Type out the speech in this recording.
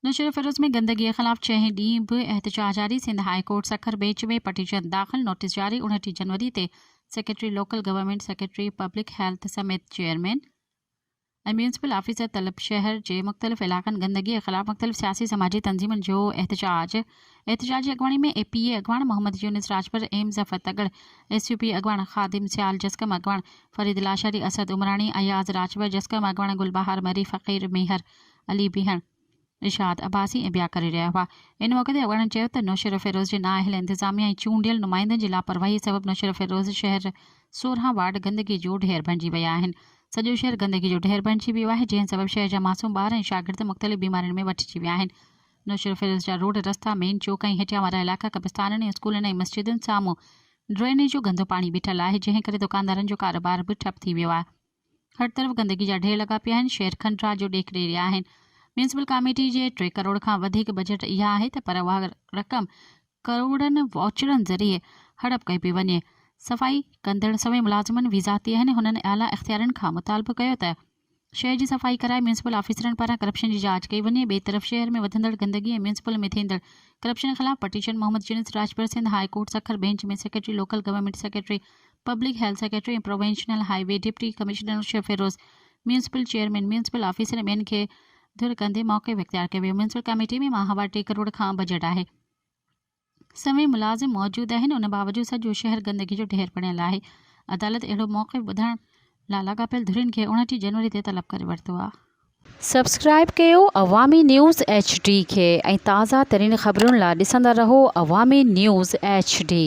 نوشهروفيروز ۾ گندگي خلاف ڇهين ڏينهن به احتجاج جاري، Sindh high court Sukkur bench ۾ petition داخل، نوٽيس جاري، اڻٽيهه جنوري تي secretary local government, secretary public health سميت چيئرمين ۽ ميونسپل آفيسر طلب شهر جي مختلف علائقن گندگي خلاف مختلف سياسي سماجي تنظيمن جو احتجاج احتجاج جي اڳواڻي ۾ اي پي اي اڳواڻ Muhammad Younis Rajpar M Zafar Tagar S U P اڳواڻ خادم سيال جسقم اڳواڻ فريد لاشاري اسد عمراڻي اياز راڄپر جسقم اڳواڻ گلبهار مري فقير ميهر علي بيهڻ، ارشاد عباسي ۽ ٻيا ڪري رهيا هئا. ان موقعي تي اڳواڻن چيو ته نوشهروفيروز جي نااهل انتظاميا ۽ چونڊيل نمائندن جي لاپرواهي سبب نوشهروفيروز شهر سورهن وارڊ گندگي جو ڍير بڻجي ويا آهن، سڄو شهر گندگي جو ڍير بڻجي ويو آهي جنهن سبب شهر جا معصوم ٻار ۽ شاگرد مختلف بيمارين ۾ وٺجي ويا آهن، نوشهروفيروز جا روڊ رستا، مين چوڪ ۽ هيٺيان وارا علائقا قبرستانن ۽ اسڪولن ۽ مسجدن سامهون ڊرينيج جو گندو پاڻي بيٺل آهي جنهن ڪري دڪاندارن جو ڪاروبار به ٺپ ٿي ويو آهي. هر طرف گندگي جا ڍير لڳا پيا آهن، شهر کنڊ راج جو ڏيک ڏيئي رهيا آهن، ميونسپل ڪاميٽي جي ٽي ڪروڙ کان وڌيڪ بجيٽ اها آهي ته پر اها رقم ڪروڙن واچرن ذريعي هڙپ ڪئي پئي وڃي، صفائي ڪندڙ سوين ملازمن به ذاتي آهن، هنن اعليٰ اختيارين کان مطالبو ڪيو ته شهر جي صفائي ڪرائي ميونسپل آفيسرن پاران ڪرپشن جي جاچ ڪئي وڃي، ٻئي طرف شهر ۾ وڌندڙ گندگي ۽ ميونسپل ۾ ٿيندڙ ڪرپشن خلاف پٽيشن محمد جنس Rajpar Sindh high court Sukkur bench ۾ secretary local government secretary public health secretary ۽ provincial highway deputy commissioner شيف Feroz, municipal chairman, municipal officer ۽ ٻين کي ڌر ڪندي موقف اختيار ڪيو ويو، ميونسپل ڪاميٽي ۾ ماهوار ٽي ڪروڙ کان بجيٽ آهي، سوين ملازم موجود آهن ان باوجود سڄو شهر گندگي جو ڍير بڻيل آهي، عدالت اهڙو موقف ٻڌڻ لا لاڳاپيل ڌرين کي اوڻٽيهه جنوري تي طلب ڪري ورتو آ. سبسڪرائب ڪيو عوامي نيوز ايڇ ڊي کي ۽ تازه ترين خبرن لا ڏسندا رهو عوامي نيوز ايڇ ڊي.